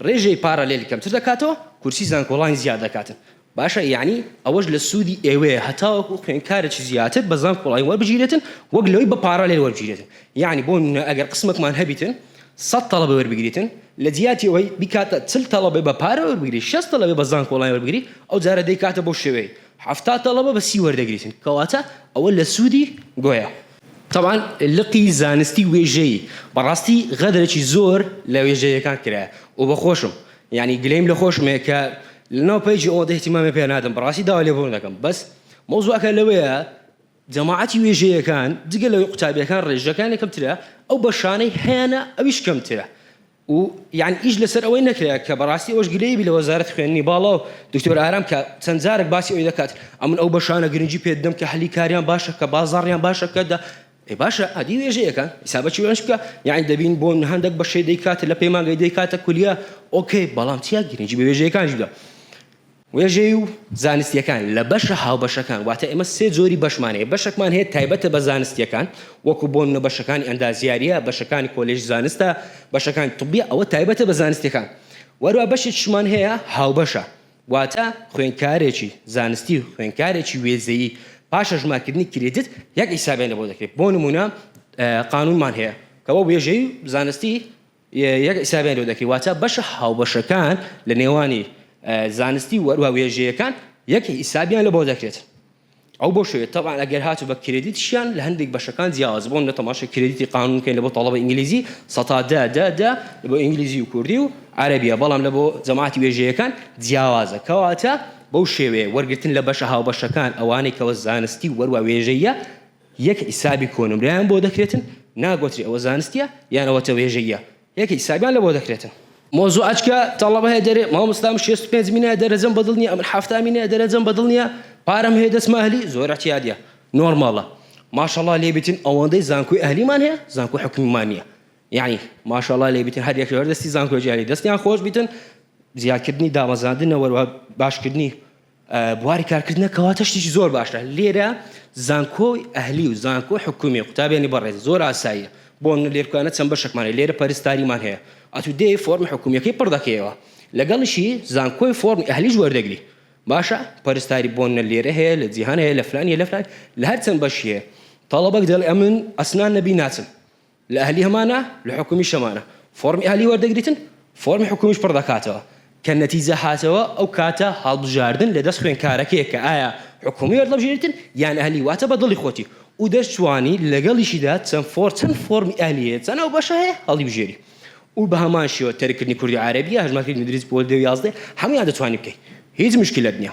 ڕێژەی پارالێل کەمتر دەکاتەوە کورسی زانکۆڵاین زیاد دەکاتن باشە یەعنی ئەوەش لە سوودی ئێوەیە هەتاوەکو خوێندکارێکی زیاتر بە زانکۆڵاین وەربگیرێتن وەک لەوەی بە پارالێل وەربگیرێتن یەعنی بۆ نمونە ئەگەر قسمەکمان هەبیتن سەد تەڵەبە وەربگریتن لە جیاتی ئەوەی بیکاتە چل تەڵەبەی بە پارە وەربگری شەست تەڵەبەی بە زانکۆڵاین وەربگری ئەو جارە دەیکاتە بەو شێوەیە حەفتا تەڵەبە بە سی وەردەگریتن کەواتە ئەوە لە سودی گۆیا. تەبعەن لقی زانستی وێژەیی بەڕاستی غەدرەکی زۆر لە وێژەیەکان کرایە و بە خۆشم یانی گلەیم لە خۆشمەیە کە لەناو پەیجی ئەوەندە ئیهتیمامی پێ نادەم بەڕاستی داوای لێبوردن دەکەم بەس مەوزوعەکە لەوەیە جەماعەتی وێژەیەکان جگە لەوەی قوتابیەکان ڕێژەکانی کەمترە ئەو بەشانەی هەیانە ئەویش کەمترە و یان ئیش لەسەر ئەوەی نەکرا کە بەڕاستی ئەوەش گلەیی بی لە وەزارەتی خوێندنی باڵا و دکتۆر ئارام کە چەند جارەک باسی ئەوەی دەکات ئەمن ئەو بەشانە گرنگی پێ دەدەم کە هەلی کاریان باشە کە بازاڕیان باشە کە دە ئەی باشە ئەدی وێژەیەکان حیسابەکی وێژ بکە یانی دەبین بۆ هەندێک بەشەی دەیکات لە پەیمانگەی دەیکاتە کولیا ئۆکەی بەڵام چیا گرنگی بە وێژەیەکانیش بدە وێژەیی و زانستییەکان، لە بەشە هاوبەشەکان، واتە ئێمە سێ جۆری بەشمان هەیە، بەشەکمان هەیە تایبەتە بە زانستییەکان، وەکو بۆ نمونە بەشەکانی ئەندازیارییە، بەشەکانی کۆلێژی زانستە، بەشەکانی طبییە، ئەوە تایبەتە بە زانستییەکان. وەروا بەشێکیشمان هەیە هاوبەشە، واتە خوێندکارێکی زانستی و خوێندکارێکی وێزەیی پاش هەژمارکردنی کریدت یەک حیسابیان لەبۆ دەکرێت، بۆ نمونە قانونمان هەیە کەوا وێژەیی و زانستی، یەک حیسابیان لۆ دەکرێت واتە بەشە هاوبەشەکان لە نێوانی زانستی و هەروە وێژەیەکان یەک حیسابیان لە بۆ دەکرێت ئەو بۆ شوێت طبعا ئەگەر هاتو بە کریدیتشیان لە هەندێک بەشەکان جیاواز بۆن لە تەماشە کریدیتی قانون کەین لە بۆ تەڵەبە ئینگلیزی سەتا دە دە دە بۆ ئینگلیزی و کوردی و عەرەبیە بەڵام لە بۆ جەماعەتی وێژەیەکان جیاوازە کەواتە بەو شێوەیە وەرگرتن لە بەشە هاوبەشەکان ئەوانەی کەوە زانستی و وەروا وێژەیە یەک حیسابی کۆنمرەیان بۆ دەکرێتن ناگۆتری ئەوە زانستیە یان ئەوە تەوێژەییە یەک حیسابیان لەبۆ دەکرێتن. مۆزوعەچ کە تەڵەبە هەیە دەرێ مامۆستا من شێست و پێنج مینایە دەرەجەم بەدڵ نیە ئەمن حەفتا مینایە دەرەجەم بەدڵ نیە پارەم هەیە دەچمە ئەهلی زۆر ئەتیادیە نۆرماڵە ماشەڵا لێ بیتن ئەوەندەی زانکۆی ئەهلیمان هەیە زانکۆ حکومیمان نیە یعنی ماشەڵا لێ بیتن هەر یەک لەوەر دەستی زانکۆ جاری دەستیان خۆش بیتن زیادکردنی دامەزاندنە وەروە باشکردنی بواری کارکردنە کەواتە شتیکی زۆر باشە لێرە زانکۆی ئەهلی و زانکۆی حکومی قوتابیانی بەڕێز زۆر ئاساییە بۆ منە لێرکانە چەند بەشەکمانە لێرە پەرستاریمان هەیە ئەتو دێ فۆرمی حکومیەکەی پڕ دەکەیەوە لەگەڵیشی زانکۆی فۆرمی ئەهلیش وەردەگری باشە پەرستاری بۆ منە لێرە هەیە لە جیهان هەیە لە فلان هەیە لە فلان لە هەر چەند بەشی هەیە تەڵەبەک دەڵێ ئەمن ئەسنان نەبی ناچم لە ئەهلی هەمانە لە حکومیش هەمانە فۆڕمی ئەهلی وەردەگریتن فۆڕمی حکومیش پڕ دەکاتەوە کە نەتیجە هاتەوە ئەو کاتە هەڵبژاردن لە دەست خوێنکارەکەیە کە ئایا حکومی وەردەبژێریتن یان ئەهلی واتە بە دڵی خۆتی و دەشتوانی لەگەڵیشیدا چەند فۆڕ چەند فۆڕمی ئەهلی هەیە چەند ئەو بەشە هەیە هەڵیبژێری و بە هەمان شێوە تەرککردنی کوردی عەرەبی هەژمارکردنی مدریس بۆ دە و یازدە هەموویان دەتوانی بکەی هیچ مشکلەت نیە.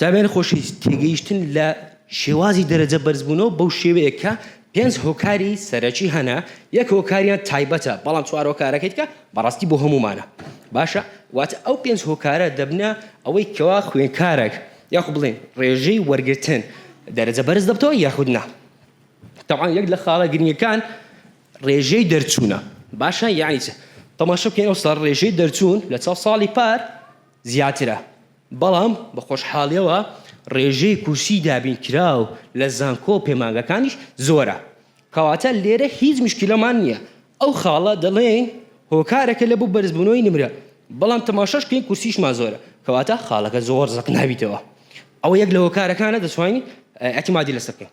زانایان خۆشی تێگەیشتن لە شێوازی دەرەجە بەرزبوونەوە بەو شێوەیە کە پێنج هۆکاری سەرەکی هەنە، یەک هۆکاریان تایبەتە، بەڵام چوار هۆکارەکەی دیکە بەڕاستی بۆ هەموومانە. باشە واتە ئەو پێنج هۆکارە دەبنە ئەوەی کەوا خوێندکارێک یاخود بڵێن ڕێژەی وەرگرتن دەرەجە بەرز دەبتەوە یاخود نا. تەبعەن یەک لە خاڵە گرنگەکان ڕێژەی دەرچوونە. باشە یانی چ؟ تەماشا بکەین ئەوساڵ ڕێژەی دەرچوون لە چاو ساڵی پار زیاترە. بەڵام بە خۆشحاڵیەوە ڕێژەی کورسی دابینکراو لە زانکۆ و پەیمانگەکانیش زۆرە، کەواتە لێرە هیچ موشکیلەمان نیە، ئەو خاڵە دەڵێین هۆکارەکە لە بۆ بەرزبونەوەی نمرە، بەڵام تەماشاش کەین کورسیشمان زۆرە، کەواتە خاڵەکە زۆر زەق نابیتەوە، ئەوە یەک لە هۆکارەکانە دەتوانین ئیعتیمادی لەسەر بکەین.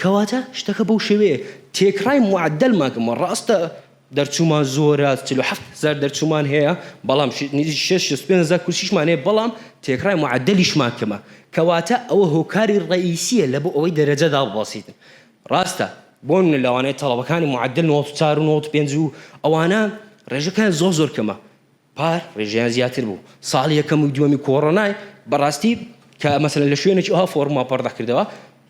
کەواتە شتەکە بەو شێوەیە تێکڕای معەدەلمان کەمەوە، ڕاستە دەرچوومان زۆرە چل و حەفت هەزار دەرچوومان هەیە، بەڵام نزیک شەست شەست و پێنج هەزار کورسیشمان هەیە، بەڵام تێکڕای معەدەلیشمان کەمە، کەواتە ئەوە هۆکاری ڕەئیسییە لە بۆ ئەوەی دەرەجە داببەزین، ڕاستە بۆ نموونە لەوانەیە تەڵەبەکانی معەدەل نەوەد و چار و نەوەد و پێنج و ئەوانە ڕێژەکەیان زۆر زۆر کەمە، پار ڕێژەیان زیاتر بوو ساڵ یەکەم و دووەمی کۆڕۆنای بەڕاستی کە مەسەلەن لە شوێنێکی ئەوها فۆڕما پەڕدەخ کردەوە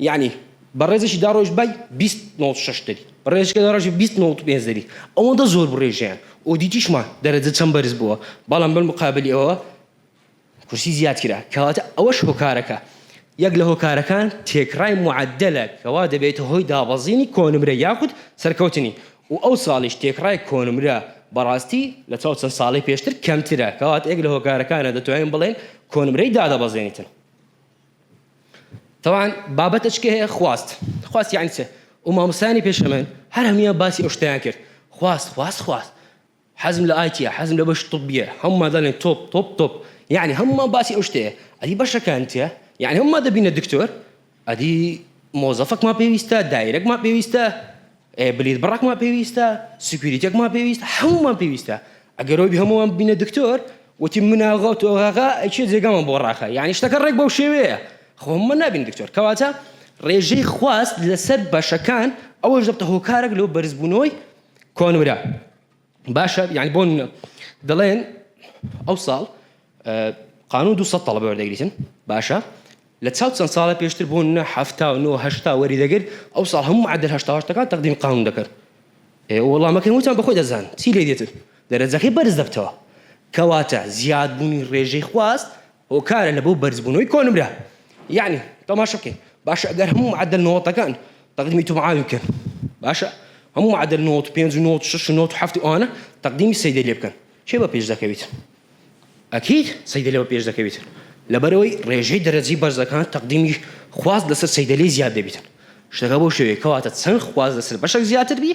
یانی بەڕێزێکی داڕۆژ بای بیست نۆت شەش دەبی ڕێژکە داڕژ بیست نۆت پێنج دەبی ئەوەندە زۆر بڕێژیان ئۆدیتیشمان دەرەجە چەند بەرز بووە بەڵام بەر مقابلی ئەوە کورسی زیاد کرا، کەواتە ئەوەش هۆکارەکە یەک لە هۆکارەکان تێکڕای معەدەلە کەوا دەبێتە هۆی دابەزینی کۆنمرە یاخود سەرکەوتنی و ئەو ساڵیش تێکڕای کۆنمرە بەڕاستی لە چاو چەند ساڵەی پێشتر کەمترە کەواتە یەک لە هۆکارەکانە دەتوانین بڵێین کۆنمرەی دادەبەزێنیتن تەوان بابەتە چکە هەیە خواست خواست یعنی چ و مامۆستایانی پێشە من هەر هەمویان باسی ئەو شتیان کرد خواست خواست خواست حەزم لە ئایتیە حەزم لە بەشی طبیە هەموومان دەڵێن تۆپ تۆپ تۆپ یەعنی هەموومان باسی ئەو شتەیە ئەدی بەشەکان چیە یەعنی هەموومان دەبینە دکتۆر ئەدی مۆزەفەکمان پێویستە دایرەکمان پێویستە ئێ بلیت بڕەکمان پێویستە سکویریتێکمان پێویستە هەموومان پێویستە ئەگەر ئەوی هەمووان ببینە دکتۆر وتی مناغە و تۆغاغا ئەچێ جێگامان بۆ ڕاخە یەعنی شتەکە ڕێک بەو شێوەیە خۆ هەموومان نابین دکتۆر کەواتە ڕێژەی خواست لەسەر بەشەکان ئەوەش دەبتە هۆکارێک لۆ بەرزبوونەوەی کۆنورە باشە یعنی بۆ دەڵێن ئەو ساڵ قانون دو سە تەڵە بەوەردەگریتن باشە لە چاو چەند ساڵە پێشتر بوون نە هەفتا و نۆهشتا وەری دەگر ئەو ساڵ هەموو معدل هشتاهشتەکان تەقدیم قانون دەکرد وەڵامەکەی وتان بەخۆی دەزان چی لێ دێتن دەرەجەکەی بەرز دەبتەوە کەواتە زیادبوونی ڕێژەی خواست هۆکارە لە بۆ بەرزبونەوەی کۆنمرە یەعنی تەماشا کەین باشە گەر هەموو معەدەل نۆتەکان تەقدیمی تومعاوی بکەن باشە هەموو معەدەل نۆت و پێنج و نۆت و شەش و نۆت و حەفت و ئەوانە تەقدیمی سەیدە لێ بکەن کێ بە پێش دەکەویت ئەکید سەیدە لێ بە پێش دەکەویت لەبەرەوەی ڕێژەی دەرەجەی بەرزەکان تەقدیمی خواست لەسەر سەیدە لێ زیاد دەبیتن شتەکە بۆ شوێ کەواتە چەند خواست لەسەر بەشەک زیاتر بی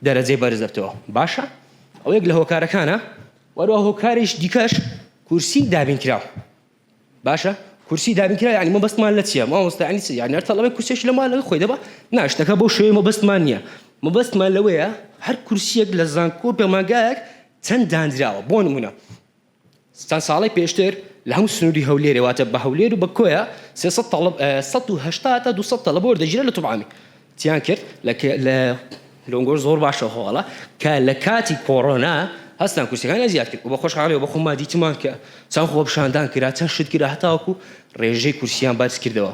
دەرەجەی بەرز دەبتەوە باشە ئەو یەک لە هۆکارەکانە وەرەوە هۆکاریش دیکەش کورسی دابین کراو باشە کورسی دابین کرا یعنی مەبەستمان لە چیە مامۆستا یعنی چی یعنی هەر تەڵەبەی کورسێکی لە مالەوەی خۆی دەبا نا شتەکە بەو شێوەی مەبەستمان نییە مەبەستمان لەوەیە هەر کورسیەک لە زانکۆ پەیمانگایەک چەند دانراوە بۆ نمونە چەند ساڵی پێشتر لە هەموو سنووری هەولێرێ واتە بە هەولێر و بە کۆیە سێ سەد تەڵەب سەد و هەشتا تا دوو سەد تەڵەبە وەردەگیرا لە توبعامی تیان کرد لە لە لۆنگۆش زۆر باشە هۆڵە کە لە کاتی کۆڕۆنا هەستان کورسەکانی زیاد کرد بە خۆشحاڵی بە خۆما دیتمان کە چەند خۆ پیشاندان کرا چەند شت کرا هەتاوەکو ڕێژەی کورسیان بەرز کردەوە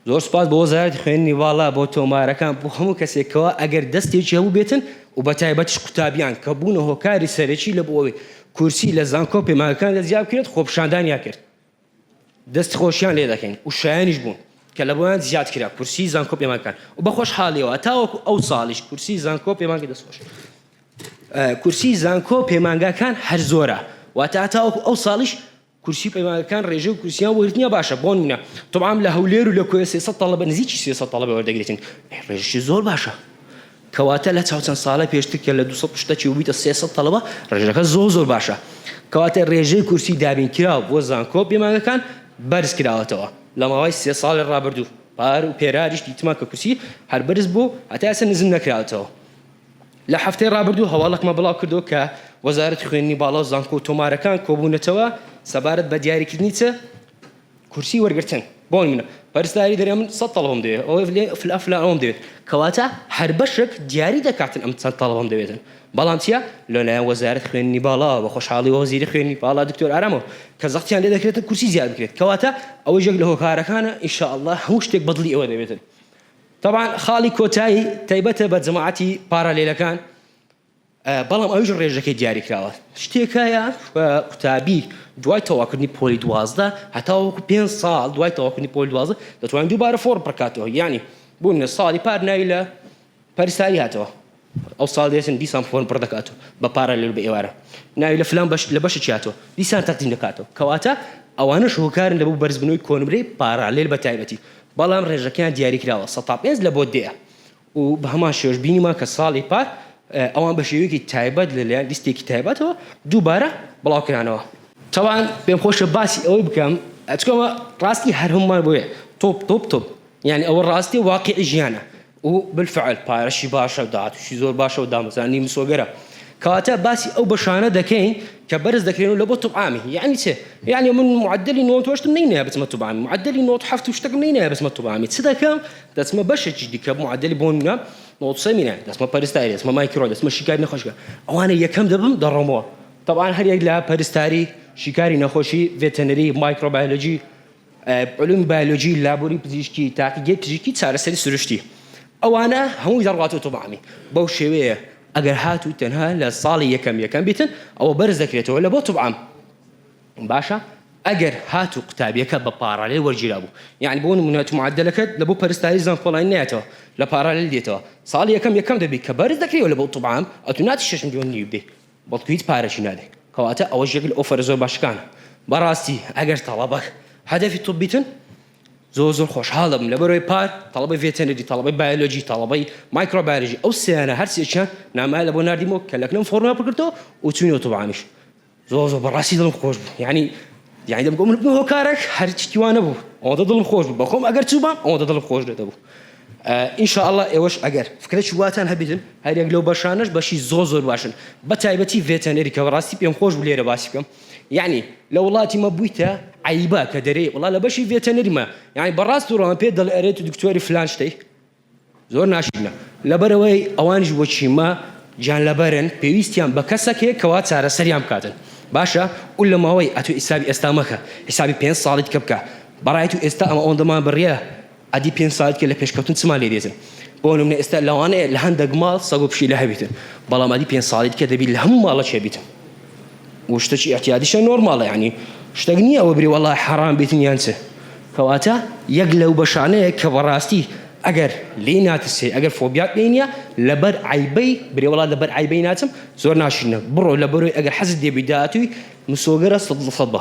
زۆر سپاس بۆ وەزارەتی خوێندنی باڵا بۆ تۆمارەکان بۆ هەموو کەسێکەوە ئەگەر دەستێکی هەبوو بێتن و بە تایبەتیش قوتابیان کە بوونە هۆکاری سەرەکی لە بۆ ئەوەی کورسی لە زانکۆ پەیمانگەکاندا زیاد بکرێت خۆپیشاندانیان کرد دەست خۆشیان لێ دەکەین و شایەنیش بوون کە لە بۆیان زیاد کرا کورسی زانکۆ پێمان کەن و بە خۆشحالیەوە تاوەکو ئەو ساڵیش کورسی زانکۆ پێمان کە دەست خۆش کورسی زانکۆ پەیمانگاکان هەر زۆرە واتە تاوەکو ئەو ساڵیش کورسی پەیمانگەکان ڕێژە و کورسیان وەرتنیە باشە بۆن منە تۆبام لە هەولێر و لە کۆێ سێسە تەڵەبە نزیکی سێسە تەڵەبە وەردەگرێتن ڕێژشی زۆر باشە کەواتە لە چاو چەند ساڵە پێشتر کە لە دوو سەد شتەکی بوویتە سێ سەد تەڵەبە ڕێژەکە زۆر زۆر باشە کەواتە ڕێژەی کورسی دابینکراو بۆ زانکۆ پەیمانگەکان بەرز کراوەتەوە لە ماوەی سێ ساڵی ڕابردوو پار و پێرادیش دیتمان کە کورسی هەر بەرز بوو هەتا ئێستا نزم نەکراوەتەوە لە هەفتەی ڕابردوو هەواڵەکمان بڵاو کردەوە کە وەزارەتی خوێندنی باڵا و زانکۆ و تۆمارەکان کۆبوونەتەوە سەبارەت بە دیاریکردنی چ کورسی وەرگرتن بۆ نمونە پەرستاری دەرێ من سەد تەڵەبەم دەوێت ئەوەی دەلێ فلان فلان ئەوەم دەوێت کەواتە هەر بەشێک دیاری دەکاتن ئەم چەند تەڵەبەم دەوێتن بەڵام چیە لە لایەن وەزارەت خوێندنی باڵا بە خۆشحاڵی وەزیری خوێندنی باڵا دکتۆر ئارامەوە کە زەختیان لێ دەکرێتن کورسی زیاد بکرێت کەواتە ئەوەش یەک لە هۆکارەکانە ان شاء اللە هەموو شتێک بە دڵی ئێوە دەبێتن طبعا خاڵی کۆتایی تایبەتە بە جەماعەتی پارالێلەکان بەڵام ئەویش ڕێژەکەی دیاریکراوە. شتێکایە قوتابی دوای تەواوکردنی پۆلی دوازدە هەتاوەکو پێنج ساڵ دوای تەواوکردنی پۆلی دوازدە دەتوانین دووبارە فۆڕم پڕکاتەوە یانی بوونە ساڵی پار ناوی لە پەرستاری هاتەوە ئەو ساڵ دێتن دیسان فۆرم پڕ دەکات و بە پارالێل بە ئێوارە ناوی لە فلان بەش لە بەشی چاتەوە دیسان تەقدیم دەکاتەوە کەواتە ئەوانە شوکارن لە بۆ بەرزبوونەوەی کۆنمرەی پارالێل بە تایبەتی بەڵام ڕێژەکەیان دیاریکراوە سەتا پێنج لە بۆ دەیە و بە هەمان شێوەش بینیمان کە ساڵی پار ئەوان بە شێوەیەکی تایبەت لە لایەن لیستێکی تایبەتەوە دووبارە بڵاو کرانەوە. تاوان پێم خۆشە باسی ئەوەی بکەم چونکە ئەوە ڕاستی هەر هەموومان بۆیە تۆپ تۆپ تۆپ یانی ئەوە ڕاستی و واقیعی ژیانە و بالفعل پارەشی باشە داهاتووشی زۆر باشە و دامەزرانی مسۆگەرە کەواتە باسی ئەو بەشانە دەکەین کە بەرز دەکرێن و لە بۆ توب عامی یانی چێ یانی من معدلی نۆ تۆشتم نەینەیە بچمە توب عامی معدلی نۆ حەفت و شتەکم نەینەیە بچمە توب عامی چ دەکەم دەچمە بەشێکی دیکە معدل بۆ منە نۆتسە مینە دەچمە پەرستاری دەچمە مایکرۆ دەچمە شیکاری نەخۆشگە ئەوانە یەکەم دەبم دەڕۆمەوە طبعا هەر یەک لە پەرستاری شیکاری نەخۆشی ڤێتەنەری مایکرۆبایۆلۆجی علوم بایۆلۆجی لابوری پزیشکی تاقیگەی پزیشکی چارەسەری سروشتی ئەوانە هەمووی دەڕاتەوە تۆبعامی بەو شێوەیە ئەگەر هاتوو تەنها لە ساڵی یەکەم یەکەم بیتن ئەوە بەرز دەکرێتەوە لە بۆ توبعام باشە ئەگەر هاتوو قوتابیەکە بە پاڕالێل وەرگیرابوو یانی بۆ نمونە تو معەدەلەکەت لە بۆ پەرستاری زانکۆڵاین نایەتەوە لە پاڕالێل دێتەوە ساڵی یەکەم یەکەم دەبی کە بەرز دەکرێوە لە بۆ طوب عام ئەتو ناچی شەش ملیۆن نیو بێ بەڵکو هیچ پارەکی نابێ کەواتە ئەوەش یەک لە ئۆفەرە زۆر باشەکانە بەڕاستی ئەگەر تەڵەبە هەدەفی طوبیتن زۆر زۆر خۆشحاڵ دەبم لەبەرەوەی پار تەڵەبەی ڤێتەنەری تەڵەبەی بایۆلۆجی تەڵەبەی مایکرۆبایۆلۆجی ئەو سێیانە هەر سێکیان نامایان لە بۆ ناردیمەوە کە لەکنم فۆرمیان پڕکردەوە و چووینەوە طوب عامیش زۆر زۆر بەڕاستی دڵم خۆش بوو یعنی یعنی دەبگۆ من بوو هۆکارێک هەرچی وا نەبوو ئەوەندە دڵم خۆش بوو بەخۆم ئەگەر چووبام ئەوەندە دڵم خۆش لێ دەبوو ئینشاءله ئێوەش ئەگەر فکرە چواتان هەبیتن هەرێک لەو بەشانش بەشی زۆر زۆر باشن بە تایبەتی ڤێتەنەری کە بەڕاستی پێم خۆش بوو لێرە باسی بکەم یعنی لە وڵاتی مە بوویتە عیبا کە دەرێ وڵا لە بەشی ڤێتەنەریمە یعنی بەڕاست وڕۆم پێ دەڵێ ئەرێت دکتۆری فلان شتەی زۆر ناشرینە لەبەرئەوەی ئەوانیش وەک چیمە گیانلەبەرن پێویستیان بە کەسەک هەیە کەوا چارەسەریان بکاتن باشە و لە ماوەی ئەتو حیسابی ئێستا مەکە حیسابی پێنج ساڵی دیکە بکە بەڕای تو ئێستا ئەمە ئەوەندەمان بڕیە ئەدی پێنج ساڵی دیکە لە پێشکەوتن چمان لێ دێتن بۆ نمونە ئێستا لەوانەیە لە هەندێک ماڵ سەگ و پشیلە هەبیتن بەڵام ئەدی پێنج ساڵی دیکە دەبی لە هەموو ماڵەک هەبیتن و شتەکی ئیعتیادیشە نۆرماڵە یانی شتەک نیە ئەوە بری وەڵا حەڕام بێتن یان چ کەواتە یەک لەو بەشانەیە کە بەڕاستی ئەگەر لێی ناترسێ ئەگەر فۆبیات لێی نیە لەبەر عەیبەی برێ وەڵا لەبەر عەیبەی ناچم زۆر ناشرینە بڕۆ لەبەرۆی ئەگەر حەزت لێبی داهاتووی مسۆگەرە سەد لە سەد بە.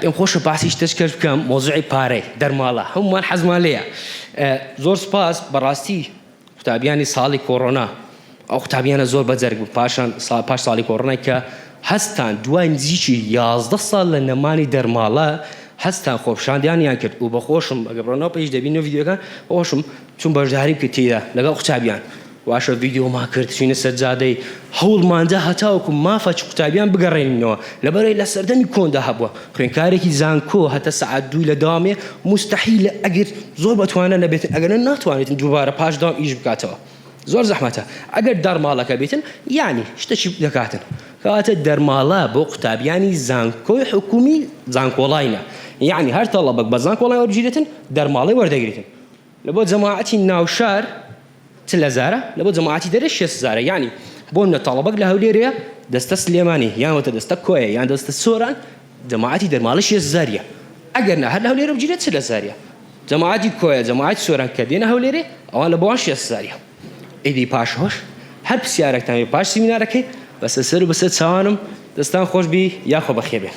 پێم خۆشە باسی شتەشکەش بکەم مۆزوعی پارەی دەرماڵە هەمومان حەزمان لێیە زۆر سپاس بەڕاستی قوتابیانی ساڵی کۆڕۆنا ئەو قوتابیانە زۆر بەجەرگ بوو پاشان سا پاش ساڵی کۆڕۆنای کە هەستان دوای نزیکی یازدە ساڵ لە نەمانی دەرماڵە هەستان خۆپیشاندانیان کرد و بەخۆشم ئەگەر بڕۆنەوە پەیج دەبیننەوە ڤیدیۆکان بەخۆشم چووم بەشداریم کرد تێیدا لەگەڵ قوتابیان. واشە ڤیدیۆمان کرد چینە سەر جادەی هەوڵماندا هەتاوەکو مافە چ قوتابیان بگەڕێنینەوە لەبەرەی لە سەردەمی کۆندا هەبوە خوێنکارێکی زانکۆ هەتا سەعات دوو لە داوامێ موستەحیلە ئەگەر زۆر بەتوانا نەبێتن ئەگەرنا ناتوانێتن دووبارە پاش داوام ئیش بکاتەوە زۆر زەحمەتە ئەگەر دارماڵەکە بێتن یانی شتەکی دەکاتن کەواتە دەرماڵە بۆ قوتابیانی زانکۆی حکومی زانکۆڵاینە یانی هەر تەڵەبەک بە زانکۆڵای وەربگیرێتن دەرماڵەی وەردەگرێتن لە بۆ جەماعەتی ناو شار چ لە زارە لە بۆ جەماعەتی دەرێ شێست زارە یانی بۆ منە تاڵەبەگ لە هەولێرێ دەستە سلێمانی یان وەتە دەستە کۆیە یان دەستە سۆران جەماعەتی دەرماڵە شێست زاریە ئەگەر نا هەر لە هەولێرە بگیرێ چ لە زاریە جەماعەتی کۆیە جەماعەتی سۆران کە دێنە هەولێرێ ئەوان لە بۆوان شێست زاریە. ئیدی پاش هۆش هەر پرسیارەکتان بێ پاش سیمینارەکەی بەسە سەر و بەسەر چاوانم دەستان خۆش بی یاخۆ بەخێر بێن.